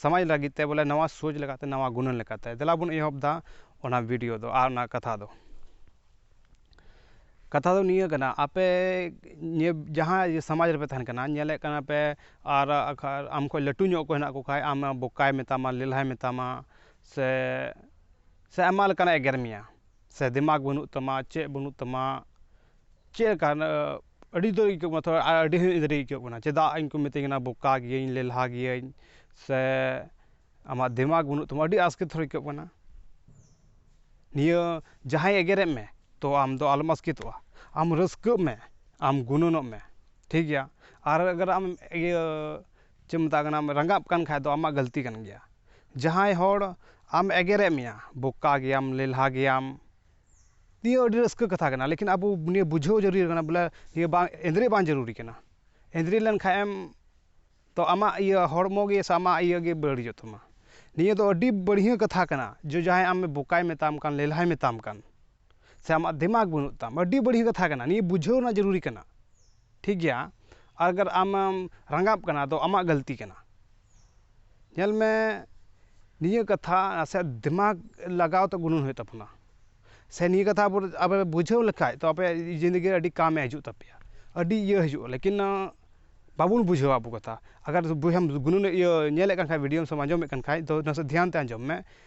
ᱥᱟᱢᱟᱡᱽ ᱞᱟᱹᱜᱤᱫ ᱛᱮ ᱵᱚᱞᱮ ᱱᱟᱣᱟ ᱥᱳᱪ ᱞᱮᱠᱟᱛᱮ ᱱᱟᱣᱟ ᱜᱩᱱᱟᱹᱱ ᱞᱮᱠᱟᱛᱮ ᱫᱮᱞᱟ ᱵᱚᱱ ᱮᱦᱚᱵ ᱫᱟ ᱚᱱᱟ ᱵᱷᱤᱰᱭᱳ ᱫᱚ ᱟᱨ ᱚᱱᱟ ᱠᱟᱛᱷᱟ ᱫᱚ ᱠᱟᱛᱷᱟ ᱫᱚ ᱱᱤᱭᱟᱹ ᱠᱟᱱᱟ ᱟᱯᱮ ᱱᱤᱭᱟᱹ ᱡᱟᱦᱟᱸ ᱥᱟᱢᱟᱡᱽ ᱨᱮᱯᱮ ᱛᱟᱦᱮᱱ ᱠᱟᱱᱟ ᱧᱮᱞᱮᱫ ᱠᱟᱱᱟ ᱯᱮ ᱟᱨ ᱟᱢ ᱠᱷᱚᱡ ᱞᱟᱹᱴᱩ ᱧᱚᱜ ᱚᱠᱚᱭ ᱦᱮᱱᱟᱜ ᱠᱚ ᱠᱷᱟᱡ ᱟᱢ ᱵᱚᱠᱟᱭ ᱢᱮᱛᱟᱢᱟ ᱞᱮᱞᱦᱟᱭ ᱢᱮᱛᱟᱢᱟ ᱥᱮ ᱥᱮ ᱟᱭᱢᱟ ᱞᱮᱠᱟᱱᱟᱜ ᱮᱜᱮᱨ ᱢᱮᱭᱟ ᱥᱮ ᱫᱤᱢᱟᱜᱽ ᱵᱟᱹᱱᱩᱜ ᱛᱟᱢᱟ ᱪᱮᱫ ᱵᱟᱹᱱᱩᱜ ᱛᱟᱢᱟ ᱪᱮᱫ ᱞᱮᱠᱟ ᱟᱹᱰᱤ ᱩᱛᱟᱹᱨ ᱟᱹᱭᱠᱟᱹᱜ ᱠᱟᱱᱟ ᱛᱷᱚᱲᱟ ᱟᱹᱰᱤ ᱟᱹᱲᱤᱥ ᱜᱮ ᱟᱹᱭᱠᱟᱹᱜ ᱠᱟᱱᱟ ᱪᱮᱫᱟᱜ ᱤᱧ ᱠᱚ ᱢᱤᱛᱟᱹᱧ ᱠᱟᱱᱟ ᱵᱳᱠᱟ ᱜᱤᱭᱟᱹᱧ ᱞᱮᱞᱦᱟ ᱜᱤᱭᱟᱹᱧ ᱥᱮ ᱟᱢᱟᱜ ᱫᱤᱢᱟᱜᱽ ᱵᱟᱹᱱᱩᱜ ᱛᱟᱢᱟ ᱟᱹᱰᱤ ᱟᱥᱠᱮᱛ ᱦᱚᱸ ᱟᱹᱭᱠᱟᱹᱜ ᱠᱟᱱᱟ ᱱᱤᱭᱟᱹ ᱡᱟᱦᱟᱸᱭ ᱮᱜᱮᱨᱮᱫ ᱢᱮ ᱛᱚ ᱟᱢ ᱫᱚ ᱟᱞᱚᱢ ᱟᱥᱠᱮᱛᱚᱜᱼᱟ ᱟᱢ ᱨᱟᱹᱥᱠᱟᱹᱜ ᱢᱮ ᱟᱢ ᱜᱩᱱᱟᱹᱱᱚᱜ ᱢᱮ ᱴᱷᱤᱠ ᱜᱮᱭᱟ ᱟᱨ ᱟᱜᱚᱨ ᱟᱢ ᱤᱭᱟᱹ ᱪᱮᱫ ᱠᱚ ᱢᱮᱛᱟᱜ ᱠᱟᱱᱟ ᱨᱟᱸᱜᱟᱜ ᱠᱟᱱ ᱠᱷᱟᱡ ᱫᱚ ᱟᱢᱟᱜ ᱜᱟᱹᱞᱛᱤ ᱠᱟᱱ ᱜᱮᱭᱟ ᱡᱟᱦᱟᱸᱭ ᱦᱚᱲ ᱟᱢ ᱮᱜᱮᱨᱮᱫ ᱢᱮᱭᱟ ᱵᱳᱠᱟ ᱜᱮᱭᱟᱢ ᱞᱮᱞᱦᱟ ᱜᱮᱭᱟᱢ ᱱᱤᱭᱟᱹ ᱟᱹᱰᱤ ᱨᱟᱹᱥᱠᱟᱹ ᱠᱟᱛᱷᱟ ᱠᱟᱱᱟ ᱞᱮᱠᱤᱱ ᱟᱵᱚ ᱱᱤᱭᱟᱹ ᱵᱩᱡᱷᱟᱹᱣ ᱡᱟᱹᱨᱩᱲ ᱠᱟᱱᱟ ᱵᱚᱞᱮ ᱱᱤᱭᱟᱹ ᱵᱟᱝ ᱮᱸᱫᱽᱨᱮᱡ ᱵᱟᱝ ᱡᱟᱹᱨᱩᱲᱤ ᱠᱟᱱᱟ ᱮᱸᱫᱽᱨᱮ ᱞᱮᱱᱠᱷᱟᱡ ᱮᱢ ᱛᱚ ᱟᱢᱟᱜ ᱤᱭᱟᱹ ᱦᱚᱲᱢᱚ ᱜᱮ ᱥᱮ ᱟᱢᱟᱜ ᱤᱭᱟᱹ ᱜᱮ ᱵᱟᱹᱲᱤᱡᱚᱜ ᱛᱟᱢᱟ ᱱᱤᱭᱟᱹ ᱫᱚ ᱟᱹᱰᱤ ᱵᱟᱹᱲᱦᱭᱟᱹ ᱠᱟᱛᱷᱟ ᱠᱟᱱᱟ ᱡᱮ ᱡᱟᱦᱟᱸᱭ ᱟᱢ ᱵᱚᱠᱟᱭ ᱢᱮᱛᱟᱢ ᱠᱟᱱ ᱞᱮᱞᱦᱟᱭ ᱢᱮᱛᱟᱢ ᱠᱟᱱ ᱥᱮ ᱟᱢᱟᱜ ᱫᱤᱢᱟᱜᱽ ᱵᱟᱹᱱᱩᱜ ᱛᱟᱢ ᱟᱹᱰᱤ ᱵᱟᱹᱲᱦᱭᱟᱹ ᱠᱟᱛᱷᱟ ᱠᱟᱱᱟ ᱱᱤᱭᱟᱹ ᱵᱩᱡᱷᱟᱹᱣ ᱨᱮᱱᱟᱜ ᱡᱟᱹᱨᱩᱲᱤ ᱠᱟᱱᱟ ᱴᱷᱤᱠ ᱜᱮᱭᱟ ᱟᱜᱟᱨ ᱟᱢᱮᱢ ᱨᱟᱸᱜᱟᱜ ᱠᱟᱱᱟ ᱛᱚ ᱟᱢᱟᱜ ᱜᱟᱹᱞᱛᱤ ᱠᱟᱱᱟ ᱧᱮᱞ ᱢᱮ ᱱᱤᱭᱟᱹ ᱠᱟᱛᱷᱟ ᱥᱮ ᱫᱤᱢᱟᱜᱽ ᱞᱟᱜᱟᱣ ᱛᱮ ᱜᱩᱱᱟᱹᱱ ᱦᱩᱭᱩᱜ ᱛᱟᱵᱚᱱᱟ ᱥᱮ ᱱᱤᱭᱟᱹ ᱠᱟᱛᱷᱟ ᱟᱵᱚ ᱟᱵᱚ ᱵᱩᱡᱷᱟᱹᱣ ᱞᱮᱠᱷᱟᱡ ᱛᱚ ᱟᱯᱮ ᱡᱤᱱᱫᱮᱜᱤ ᱨᱮ ᱟᱹᱰᱤ ᱠᱟᱢᱮ ᱦᱤᱡᱩᱜ ᱛᱟᱯᱮᱭᱟ ᱟᱹᱰᱤ ᱤᱭᱟᱹ ᱦᱤᱡᱩᱜᱼᱟ ᱞᱮᱠᱤᱱ ᱵᱟᱵᱚᱱ ᱵᱩᱡᱷᱟᱹᱣᱟ ᱟᱵᱚ ᱠᱟᱛᱷᱟ ᱟᱜᱟᱨ ᱵᱚᱭᱦᱟᱢ ᱜᱩᱱᱟᱹᱱ ᱤᱭᱟᱹ ᱧᱮᱞᱮᱫ ᱠᱟᱱ ᱠᱷᱟᱡ ᱵᱷᱤᱰᱭᱳ ᱥᱮᱢ ᱟᱸᱡᱚᱢᱮᱫ ᱠᱟᱱ ᱠᱷᱟᱡ ᱛᱚ ᱱᱟᱥᱮ ᱫᱷᱮᱭᱟᱱ ᱛᱮ ᱟᱸᱡᱚᱢ ᱢᱮ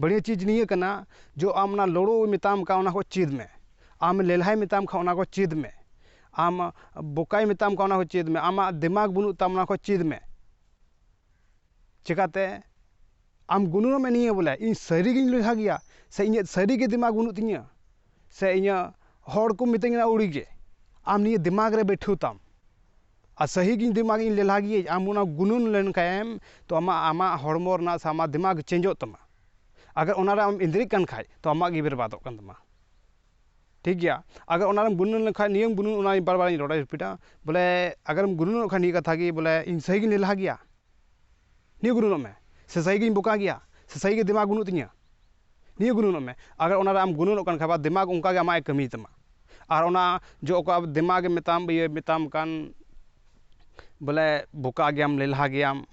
ᱵᱟᱹᱲᱤᱭᱟᱹ ᱪᱤᱡᱽ ᱱᱤᱭᱟᱹ ᱠᱟᱱᱟ ᱡᱚ ᱟᱢ ᱚᱱᱟ ᱞᱩᱲᱩ ᱢᱮᱛᱟᱢ ᱠᱟᱱ ᱚᱱᱟ ᱠᱚ ᱪᱮᱫ ᱢᱮ ᱟᱢ ᱞᱮᱞᱦᱟᱭ ᱢᱮᱛᱟᱢ ᱠᱷᱟᱱ ᱚᱱᱟ ᱠᱚ ᱪᱮᱫ ᱢᱮ ᱟᱢ ᱵᱚᱠᱟᱭ ᱢᱮᱛᱟᱢ ᱠᱷᱟᱱ ᱚᱱᱟ ᱠᱚ ᱪᱮᱫ ᱢᱮ ᱟᱢᱟᱜ ᱫᱤᱢᱟᱜᱽ ᱵᱟᱹᱱᱩᱜ ᱛᱟᱢ ᱚᱱᱟ ᱠᱚ ᱪᱮᱫ ᱢᱮ ᱪᱤᱠᱟᱹᱛᱮ ᱟᱢ ᱜᱩᱱᱟᱹᱱᱚᱜ ᱢᱮ ᱱᱤᱭᱟᱹ ᱵᱚᱞᱮ ᱤᱧ ᱥᱟᱹᱨᱤᱜᱤᱧ ᱞᱮᱞᱦᱟ ᱜᱮᱭᱟ ᱥᱮ ᱤᱧᱟᱹᱜ ᱥᱟᱹᱨᱤᱜᱮ ᱫᱤᱢᱟᱜᱽ ᱵᱟᱹᱱᱩᱜ ᱛᱤᱧᱟᱹ ᱥᱮ ᱤᱧᱟᱹᱜ ᱦᱚᱲ ᱠᱚ ᱢᱤᱛᱟᱹᱧ ᱠᱟᱱᱟ ᱟᱹᱣᱲᱤᱜᱮ ᱟᱢ ᱱᱤᱭᱟᱹ ᱫᱤᱢᱟᱜᱽ ᱨᱮ ᱵᱟᱹᱭᱴᱷᱟᱹᱣ ᱛᱟᱢ ᱟᱨ ᱥᱟᱹᱦᱤ ᱜᱮ ᱫᱤᱢᱟᱜᱽ ᱤᱧ ᱞᱮᱞᱦᱟ ᱜᱮᱭᱟᱹᱧ ᱟᱢ ᱚᱱᱟ ᱜᱩᱱᱟᱹᱱ ᱞᱮᱱ ᱠᱷᱟᱱ ᱮᱢ ᱛᱚ ᱟᱢᱟᱜ ᱟᱢᱟᱜ ᱦᱚᱲᱢᱚ ᱨᱮᱱᱟᱜ ᱥᱮ ᱟᱢᱟᱜ ᱫᱤᱢᱟᱜᱽ ᱪᱮᱧᱡᱚᱜ ᱛᱟᱢᱟ ᱟᱜᱟᱨ ᱚᱱᱟ ᱨᱮ ᱟᱢ ᱤᱱᱫᱽᱨᱤᱜ ᱠᱟᱱ ᱠᱷᱟᱱ ᱛᱚ ᱟᱢᱟᱜ ᱜᱮ ᱵᱮᱨᱵᱟᱫᱚᱜ ᱠᱟᱱ ᱛᱟᱢᱟ ᱴᱷᱤᱠ ᱜᱮᱭᱟ ᱟᱜᱟᱨ ᱚᱱᱟ ᱨᱮᱢ ᱜᱩᱱᱟᱹᱱ ᱞᱮᱠᱷᱟᱱ ᱱᱤᱭᱟᱹᱢ ᱜᱩᱱᱟᱹᱱ ᱚᱱᱟ ᱵᱟᱨ ᱵᱟᱨ ᱤᱧ ᱨᱚᱲᱟ ᱨᱤᱯᱤᱴᱟ ᱵᱚᱞᱮ ᱟᱜᱟᱨᱮᱢ ᱜᱩᱱᱟᱹᱱᱚᱜ ᱠᱷᱟᱱ ᱱᱤᱭᱟᱹ ᱠᱟᱛᱷᱟ ᱜᱮ ᱵᱚᱞᱮ ᱤᱧ ᱥᱟᱹᱦᱤ ᱜᱮᱧ ᱞᱮᱞᱦᱟ ᱜᱮᱭᱟ ᱱᱤᱭᱟᱹ ᱜᱩᱱᱟᱹᱱᱚᱜ ᱢᱮ ᱥᱮ ᱥᱟᱹᱨᱤ ᱜᱮᱧ ᱵᱚᱠᱟ ᱜᱮᱭᱟ ᱥᱮ ᱥᱟᱹᱨᱤ ᱜᱮ ᱫᱤᱢᱟᱜᱽ ᱵᱟᱹᱱᱩᱜ ᱛᱤᱧᱟᱹ ᱱᱤᱭᱟᱹ ᱜᱩᱱᱟᱹᱱᱚᱜ ᱢᱮ ᱟᱨ ᱚᱱᱟ ᱨᱮ ᱟᱢ ᱜᱩᱱᱟᱹᱱᱚᱜ ᱠᱟᱱ ᱠᱷᱟᱱ ᱵᱟ ᱫᱤᱢᱟᱜᱽ ᱚᱱᱠᱟ ᱜᱮ ᱟᱢᱟᱜ ᱮ ᱠᱟᱹᱢᱤ ᱛᱟᱢᱟ ᱟᱨ ᱚᱱᱟ ᱡᱚ ᱚᱠᱟ ᱫᱤᱢᱟᱜᱽ ᱮ ᱢᱮᱛᱟᱢ ᱤᱭᱟᱹ ᱢᱮᱛᱟᱢ ᱠᱟᱱ ᱵᱚᱞᱮ ᱵᱚᱠᱟ ᱜᱮᱭᱟᱢ ᱞᱮᱞᱦᱟ ᱜᱮᱭᱟᱢ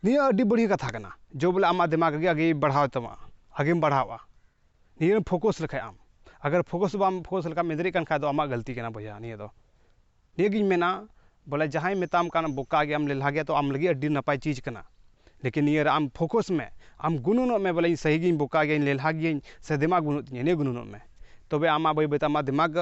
ᱱᱤᱭᱟᱹ ᱟᱹᱰᱤ ᱵᱟᱹᱲᱤᱡ ᱠᱟᱛᱷᱟ ᱠᱟᱱᱟ ᱡᱮ ᱵᱚᱞᱮ ᱟᱢᱟᱜ ᱫᱤᱢᱟᱜᱽ ᱜᱮ ᱟᱜᱮᱭ ᱵᱟᱲᱦᱟᱣ ᱛᱟᱢᱟ ᱟᱜᱮᱢ ᱵᱟᱲᱦᱟᱣᱟ ᱱᱤᱭᱟᱹ ᱨᱮᱢ ᱯᱷᱳᱠᱚᱥ ᱞᱮᱠᱷᱟᱱ ᱟᱢ ᱟᱜᱟᱨ ᱯᱷᱳᱠᱚᱥ ᱵᱟᱢ ᱯᱷᱳᱠᱚᱥ ᱞᱮᱠᱷᱟᱱ ᱢᱮᱫ ᱨᱮᱜ ᱠᱟᱱ ᱠᱷᱟᱱ ᱫᱚ ᱟᱢᱟᱜ ᱜᱟᱹᱞᱛᱤ ᱠᱟᱱᱟ ᱵᱚᱭᱦᱟ ᱱᱤᱭᱟᱹ ᱫᱚ ᱱᱤᱭᱟᱹ ᱜᱤᱧ ᱢᱮᱱᱟ ᱵᱚᱞᱮ ᱡᱟᱦᱟᱸᱭ ᱢᱮᱛᱟᱢ ᱠᱟᱱ ᱵᱚᱠᱟ ᱜᱮᱭᱟᱢ ᱞᱮᱞᱦᱟ ᱜᱮᱭᱟᱢ ᱛᱚ ᱟᱢ ᱞᱟᱹᱜᱤᱫ ᱟᱹᱰᱤ ᱱᱟᱯᱟᱭ ᱪᱤᱡᱽ ᱠᱟᱱᱟ ᱞᱮᱠᱤᱱ ᱱᱤᱭᱟᱹ ᱨᱮ ᱟᱢ ᱯᱷᱳᱠᱳᱥ ᱢᱮ ᱟᱢ ᱜᱩᱱᱟᱹᱱᱚᱜ ᱢᱮ ᱵᱚᱞᱮ ᱤᱧ ᱥᱟᱹᱦᱤ ᱜᱮᱭᱟᱹᱧ ᱵᱚᱠᱟ ᱜᱮᱭᱟᱹᱧ ᱞᱮᱞᱦᱟ ᱜᱮᱭᱟᱹᱧ ᱥᱮ ᱫᱤᱢᱟᱜᱽ ᱵᱟᱹᱱᱩᱜ ᱛᱤᱧᱟᱹ ᱱᱤᱭᱟᱹ ᱜᱩᱱᱟᱹᱱᱚᱜ ᱢᱮ ᱛᱚᱵᱮ ᱟᱢᱟᱜ ᱵᱟᱹᱭ ᱵᱟᱹᱭ ᱛᱮ ᱟᱢᱟᱜ ᱫᱤᱢᱟᱜᱽ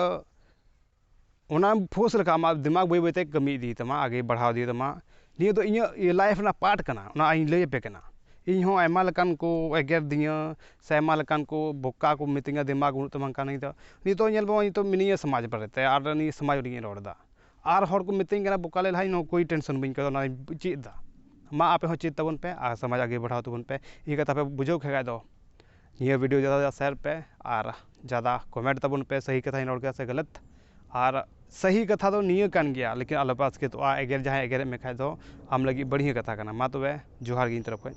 ᱚᱱᱟ ᱯᱷᱳᱨᱥ ᱞᱮᱠᱷᱟᱱ ᱟᱢᱟᱜ ᱫᱤᱢᱟᱜᱽ ᱵᱟᱹᱭ ᱵᱟᱹᱭ ᱛᱮ ᱠᱟᱹᱢᱤ ᱤᱫᱤᱭ ᱛᱟᱢᱟ ᱟᱜᱮ ᱵᱟᱲᱦᱟᱣ ᱤᱫᱤᱭ ᱛᱟᱢᱟ ᱱᱤᱭᱟᱹ ᱫᱚ ᱤᱧᱟᱹᱜ ᱞᱟᱭᱤᱯᱷ ᱨᱮᱱᱟᱜ ᱯᱟᱨᱴ ᱠᱟᱱᱟ ᱚᱱᱟ ᱤᱧ ᱞᱟᱹᱭ ᱟᱯᱮ ᱠᱟᱱᱟ ᱤᱧ ᱦᱚᱸ ᱟᱭᱢᱟ ᱞᱮᱠᱟᱱ ᱠᱚ ᱮᱜᱮᱨ ᱫᱤᱧᱟᱹ ᱥᱮ ᱟᱭᱢᱟ ᱞᱮᱠᱟᱱ ᱠᱚ ᱵᱚᱠᱟ ᱠᱚ ᱢᱤᱛᱟᱹᱧᱟ ᱫᱤᱢᱟᱜᱽ ᱵᱟᱹᱱᱩᱜ ᱛᱟᱢᱟ ᱦᱟᱝᱠᱟ ᱱᱤᱝᱠᱟ ᱱᱤᱛᱚᱜ ᱧᱮᱞ ᱢᱮ ᱱᱚᱜᱼᱚᱭ ᱱᱤᱛᱚᱜ ᱢᱤᱱᱟᱹᱧᱟ ᱥᱚᱢᱟᱡᱽ ᱵᱟᱨᱮᱛᱮ ᱟᱨ ᱱᱤᱭᱟᱹ ᱥᱚᱢᱟᱡᱽ ᱞᱟᱹᱜᱤᱫ ᱤᱧ ᱨᱚᱲᱫᱟ ᱟᱨ ᱦᱚᱲ ᱠᱚ ᱢᱤᱛᱟᱹᱧ ᱠᱟᱱᱟ ᱵᱚᱠᱟ ᱞᱮ ᱞᱟᱦᱟᱭ ᱱᱚᱣᱟ ᱠᱚ ᱴᱮᱱᱥᱮᱱ ᱵᱟᱹᱧ ᱟᱹᱭᱠᱟᱹᱣᱫᱟ ᱱᱚᱣᱟᱧ ᱪᱮᱫ ᱫᱟ ᱢᱟ ᱟᱯᱮ ᱦᱚᱸ ᱪᱮᱫ ᱛᱟᱵᱚᱱ ᱯᱮ ᱟᱨ ᱥᱚᱢᱟᱡᱽ ᱟᱜᱮ ᱵᱟᱲᱦᱟᱣ ᱛᱟᱵᱚᱱ ᱯᱮ ᱱᱤᱭᱟᱹ ᱠᱟᱛᱷᱟ ᱯᱮ ᱵᱩᱡᱷᱟᱹᱣ ᱠᱮᱫ ᱠᱷᱟᱡ ᱫᱚ ᱱᱤᱭᱟᱹ ᱵᱷᱤᱰᱭᱳ ᱡᱟᱫᱟ ᱥᱮ ᱡᱟᱫᱟ ᱥᱮᱭᱟᱨ ᱯᱮ ᱟᱨ ᱡᱟᱫᱟ ᱠᱚᱢᱮᱱᱴ ᱛᱟᱵᱚᱱ ᱯᱮ ᱥᱟᱹᱦᱤ ᱠᱟᱛᱷᱟᱧ ᱨᱚᱲ ᱠᱮᱫᱟ ᱥᱮ ᱜᱟᱹᱞᱟᱹᱛ ᱟᱨ ᱥᱟᱹᱦᱤ ᱠᱟᱛᱷᱟ ᱫᱚ ᱱᱤᱭᱟᱹ ᱠᱟᱱ ᱜᱮᱭᱟ ᱞᱮᱠᱤᱱ ᱟᱞᱚ ᱯᱮ ᱟᱥᱠᱮᱛᱚᱜᱼᱟ ᱮᱜᱮᱨ ᱡᱟᱦᱟᱸᱭ ᱮᱜᱮᱨᱮᱫ ᱢᱮ ᱠᱷᱟᱡ ᱫᱚ ᱟᱢ ᱞᱟᱹᱜᱤᱫ ᱵᱟᱹᱲᱤᱡ ᱠᱟᱛᱷᱟ ᱠᱟᱱᱟ ᱢᱟ ᱛᱚᱵᱮ ᱡᱚᱦᱟᱨ ᱜᱮ ᱤᱧ ᱛᱚᱨᱚᱯᱷ ᱠᱷᱚᱡ